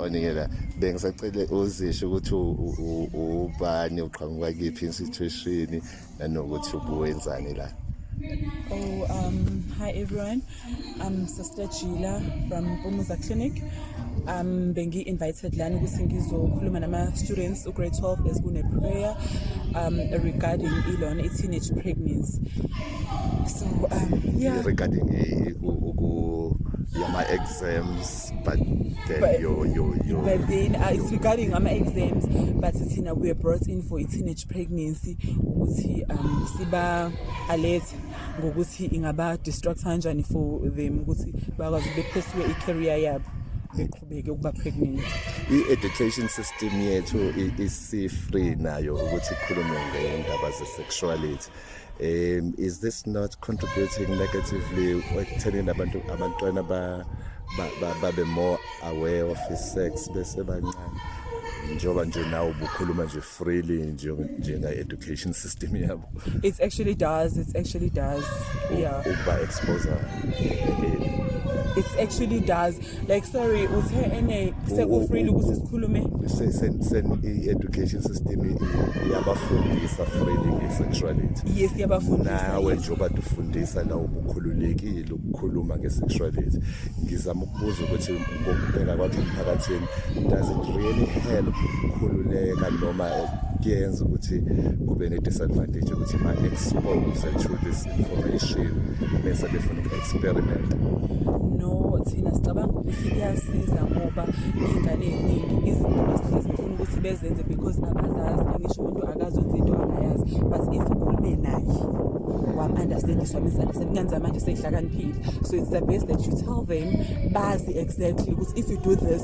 oningela bengisacele uzisho ukuthi ubani uqhamuka kiphi institution nanokuthi ubuwenzani la Oh, um, hi everyone. I'm Sister Gila from Umuza Clinic. Um, bengi invited lana ukuthi ngizokhuluma nama students u grade 12 as kune prayer um regarding ilona i teenage pregnancy. So um yeah regarding uku yama exams but then But- your your your But then uh, it's regarding ama exams but thina we are brought in for i-teenage pregnancy ukuthi um siba alert ngokuthi ingaba distract kanjani for them ukuthi bakwazi bephesiwe i-career yabo beqhubeke ukuba pregnant. i-education system yethu i- isi-free nayo ukuthi ikhulume ngendaba ze-sexuality um is this not contributing negatively ekuthenini abantu abantwana babe more aware of i-sex besebancane njengoba nje nawe ubukhuluma nje freely njenga-education system yabo it actually does it actually does yeah ukuba-exposa it's actually does like sorry uthe ene sekufreely ukuthi sikhulume se- sen- sen- i-education system i- i- iyabafundisa freely nge-sexuality yes yabafundisa nawe yes. njengoba tufundisa la ubukhululekile ukukhuluma nge-sexuality ngizama ukubuza ukuthi ngokubheka kwakhe emphakathini does it really help ukukhululeka noma kuyenza ukuthi kube ne-disadvantage ukuthi ma-expose to this information bese befuna uku-experiment no thina sicabanga ukuthi kuyasiza ngoba iy'ngane ey'ningi izinto basihlezi befuna ukuthi bezenze because abazazi angisho umuntu akazenza into angayazi but if ukhulume naye wam-understandiswa misunderstand kuyenzeka manje seyihlakaniphile so it's the best that you tell them bazi exactly ukuthi if you do this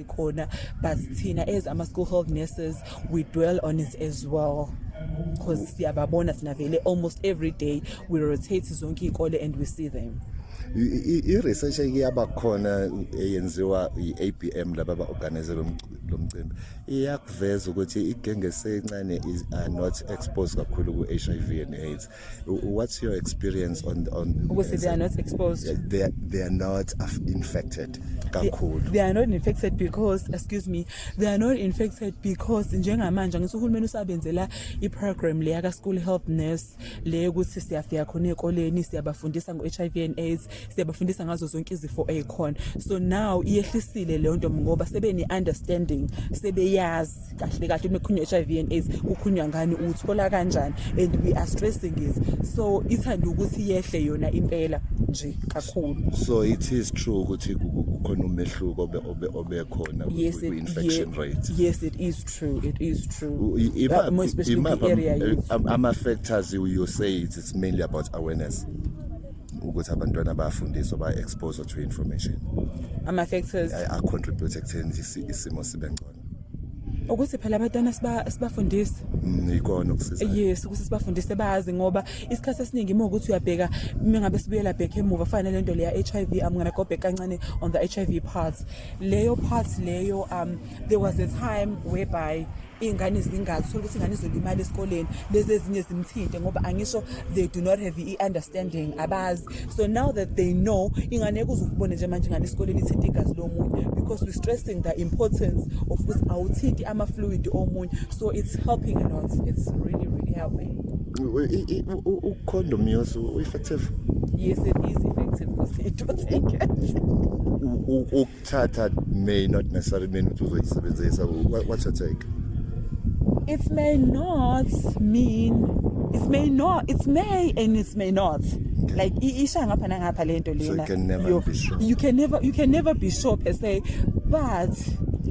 khona but thina as ama-school health nurses we dwell on it as well because siyababona sinavele almost every day we rotate zonke iy'kole and we see them i-research eyaba khona eyenziwa i-abm laba ba-organize lo mcimbi iyakuveza ukuthi igenge sencane are not exposed kakhulu ku-h i v and aids What's your experience on on ukuthi they are not exposed? Yeah, they are, they are not infected kakhulu. They, they are not infected because excuse me, they are not infected because njengamanje ngithi uhulumeni usabenzela i-program le yaka school health nurse le ukuthi siyafika khona ezikoleni siyabafundisa ngo-HIV and AIDS siyabafundisa ngazo zonke izifo ezikhona so now iyehlisile leyo nto ngoba sebene understanding sebeyazi kahle kahle mekhunywa HIV and AIDS ukhunywa ngani uthola kanjani and we are stressing it so ithanda ukuthi yehle yona impela nje kakhulu so it is true ukuthi kukhona umehluko obe obe obekhona yes, kwi infection yeah, rate yes it is true it is true ima, more especially ima, the area ama factors you, you say it's mainly about awareness ukuthi abantwana bayafundiswa ba exposure to information ama factors a contribute ekutheni isimo sibe ngcono ukuthi phela abantwana sibafundise mm, ikona ukusiza yes ukuthi sibafundise bazi ngoba isikhathi esiningi uma ukuthi uyabheka uma ngabe sibuyela back emuva fana le nto leya HIV I'm going to go back kancane on the HIV part leyo part leyo um there was a time whereby iy'ngane zingazi uthole ukuthi ingane izolimala esikoleni lezi ezinye zimthinte ngoba angisho they do not have i-understanding abazi so now that they know ingane yekuze ukubone nje manje ingane esikoleni ithinta igazi lomunye because we stressing the importance of ukuthi awuthinti ama-fluid omunye so it's helping a lot it's really really helping ucondom yos u-effective yes it is effective because it do take it Thatha may not necessarily mean ukuthi uzoyisebenzisa what's your take? It may not mean it may not it may and it may not like isha ngapha nangapha lento lena so you can never you, be sure you can never you can never be sure per se but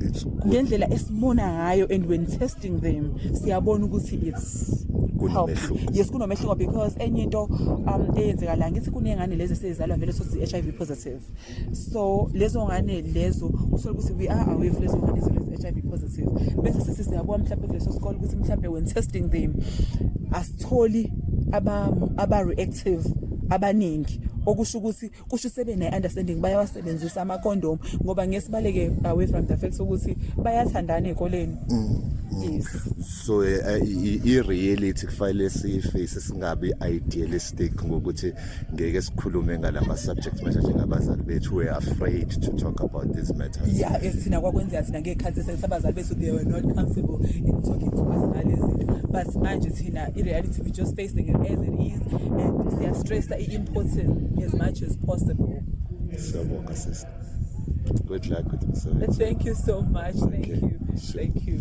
it's good ngendlela esibona ngayo and when testing them siyabona ukuthi it's kunomehluko yes kunomehluko because enye into um eyenzeka la ngithi kunengane lezi sezizalwa vele sothi HIV positive so lezo ngane lezo usole ukuthi we are aware of lezo ngane zibe-HIV positive bese sithi siyabuka mhlawumbe kuleso sikole ukuthi mhlawumbe when testing them asitholi aba-reactive aba abaningi okusho ukuthi kusho sebe ne-understanding bayawasebenzisa amakondomu ngoba ngesibaleke away from the fact ukuthi bayathandana ey'koleni mm, mm. yes so eh, i-reality kufanele siyiface singabi idealist stick ngokuthi ngeke sikhulume ngalama subjects manje njengabazali bethu we afraid to talk about these matters yeah esina kwakwenzeka thina ngekhathi sesabazali bethu they were not comfortable in talking to us ngalezi but manje thina i reality we just facing it as it is and siya stress i important as much as possible siyabonga sister good luck with the thank you so much okay. thank you thank you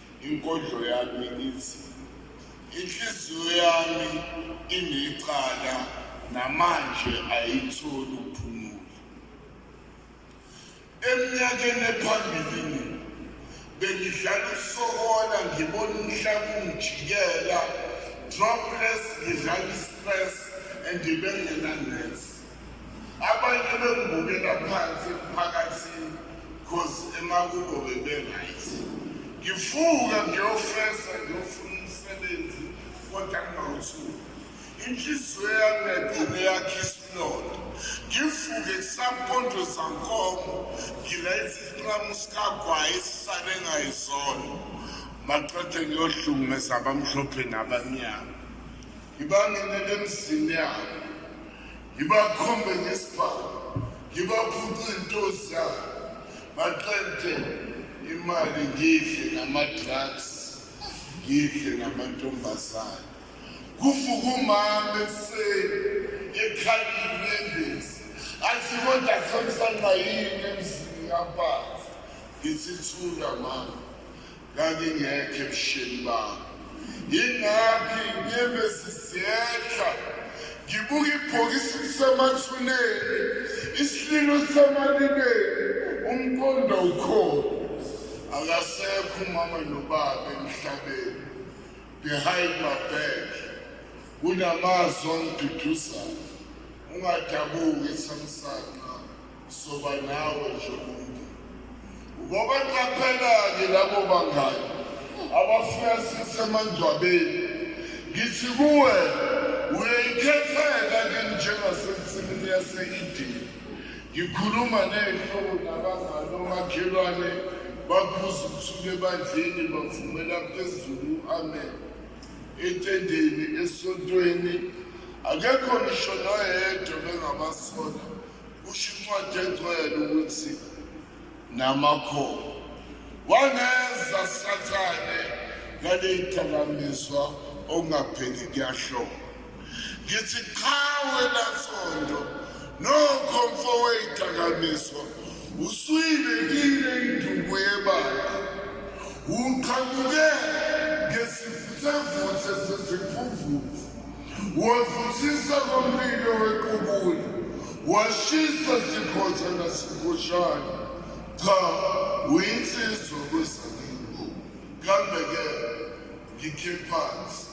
Inkondlo yami ithi inhliziyo yami inecala namanje ayitholi ukuphumula. Eminyakeni ephambilini bengidlala usokola ngibona umhlaba ungijikela dropless ngidlala istress and bengenanesi. abanye bengibukela phansi emphakathini cause emakubo bebe-right ngifuka ngiyofesa ngiyofuna umsebenzi kodwa ngingawuthuki inhliziyo yami yagcine yakhe isilonda ngifuke kusampondo zankomo ngilayisa isinqamu sikagwayi esisale ngayizona maqede ngiyohlungumeza abamhlophe nabamnyama ngibangenele emzini yabo ngibakhombe ngesibhamu ngibaphuce into zabo baqede imali ngidle nama-drugs ngidle namantombazane kuvuka umama ekuseni ekhalile endezi athi kodwa samsana yini emzini yabazi ngithithula mama ngangingekho ebusheni bami yingakho inyembezi ziyehla ngibuka ibhokisi lisemathuneni isililo semalibeni umqondo ukhona akasekho umama nobaba emhlabeni behind my back kunamazwi angiduduzayo ungadabuki samsana soba nawe nje umuntu ngoba qaphela-ke labo bangani abafika sisemangcwabeni ngithi kuwe uyayikhetheka ke njengasensimini yase-idini ngikhuluma ney'hlobo nabangani omakhelwane bakhuza usuku ebandleni bavumela phezulu u-amen etendeni esontweni akekho ngisho noyedwa bengabasola Kusho incwadi engcwele ukuthi namakhono wangeza sathane ngaley'dakamizwa okungapheli kuyahloba ngithi cha wena sondo nokho mfo wey'dakamizwa usuyibekile induku yebandla uqhamuke ngesivuthavuthe sezimfumvuvu Wavuthisa komlilo wequbula, washisa sikhotha nasikhoshana. Cha, uyinsizwa kwezakini. Kambe-ke ngikhe phansi.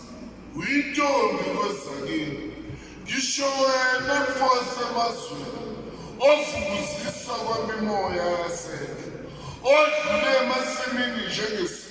Uyintombi kwezakini. Ngisho wena mfose emazweni ovukuzisa kwamimoya yasendle odlule emasimini njengesi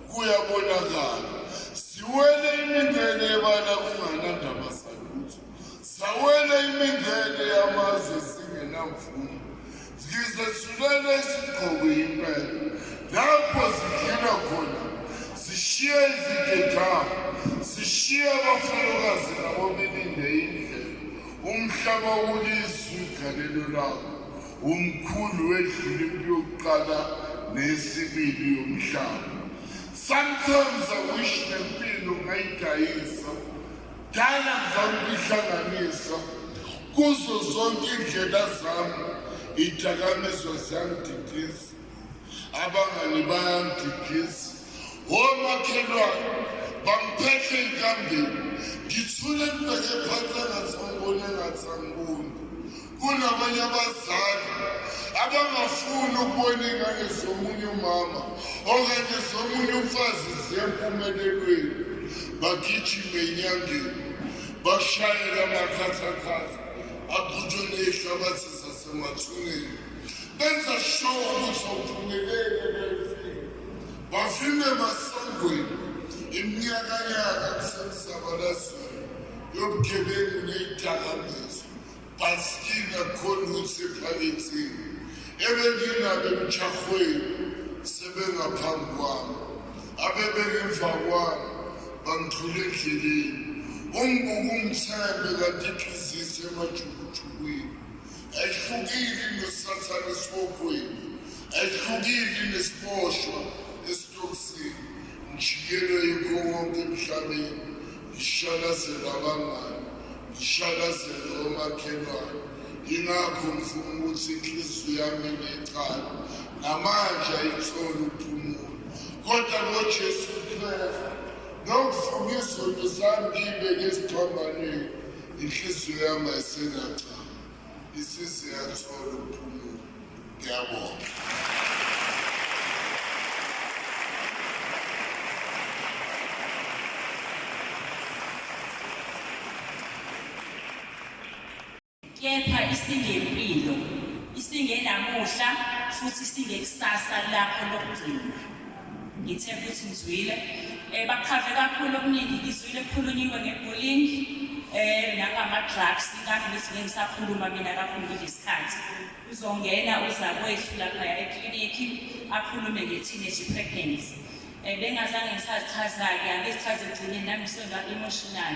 kuyabonakala ziwele imingene yebala kunganandaba salutho zawele imingene yamazwe zingenamvumo ngizethulele isigqoko impela lapho zidlula khona zishiye izigedama zishiye abafalukazi nabo belinde indlela umhlaba ulizwe igalelo lakho umkhulu wedlule impi yokuqala nesibili yomhlaba sometimes i wish nempilo ngayidayisa dala ngizama ukuyihlanganisa kuzo zonke iindlela zami idakamizwa ziyangididisa abangani bayangigisa womakhelwane bangiphethe enkambeni ngithule ngibheke phansi engathi angiboni engathi angiboni kunabanye abazali abangafuni ukubona ingane zomunye umama okanye zomunye umfazi ziyempumelelweni bagijime enyangeni bashayela amakhathakhatha aqhutshwe nehlabathi zasemathuneni benza sure ukuthi awuphumelele neze bafike emasangweni iminyakanyaka kusemsabalazweni yobugebengu neyidakamizwa bhasikina khona ukuthi ephakethini ebenginabo emjahweni sebengaphambi kwami abebengemva kwami bangithule endleleni umbuka umthembe kanti iphizise emajukujukwini ayihlukile nesathane esibogweni ayihlukile nesiboshwa esitokisini ngijikele yikho wonke emhlabeni ngishalazele abangani ngishalazele omakhelwane yingakho ngifuna ukuthi inhliziyo yami necala namanje ayitholi ukuphumula kodwa ngojesu kristu nokufuna izinto zami ngiyibeke esiphambanweni inhliziyo yami ayisenacala isisi yathola ukuphumula ngiyabonga kepha isingempilo isingenamuhla futhi singekusasa lakho lokugcina ngithe ukuthi ngizwile um bakhave kakhulu okuningi ngizwile kukhulunyiwe nge-bullying um nangama-drugs ingathi ngesinye ngisakhuluma mina kakhulu nje isikhathi uzongena uzakwethu laphaya eklinikhi akhulume nge-teenage pregnancy um bengazange ngisazichaza-ke angizichaze ekugcineni nami senga-emotional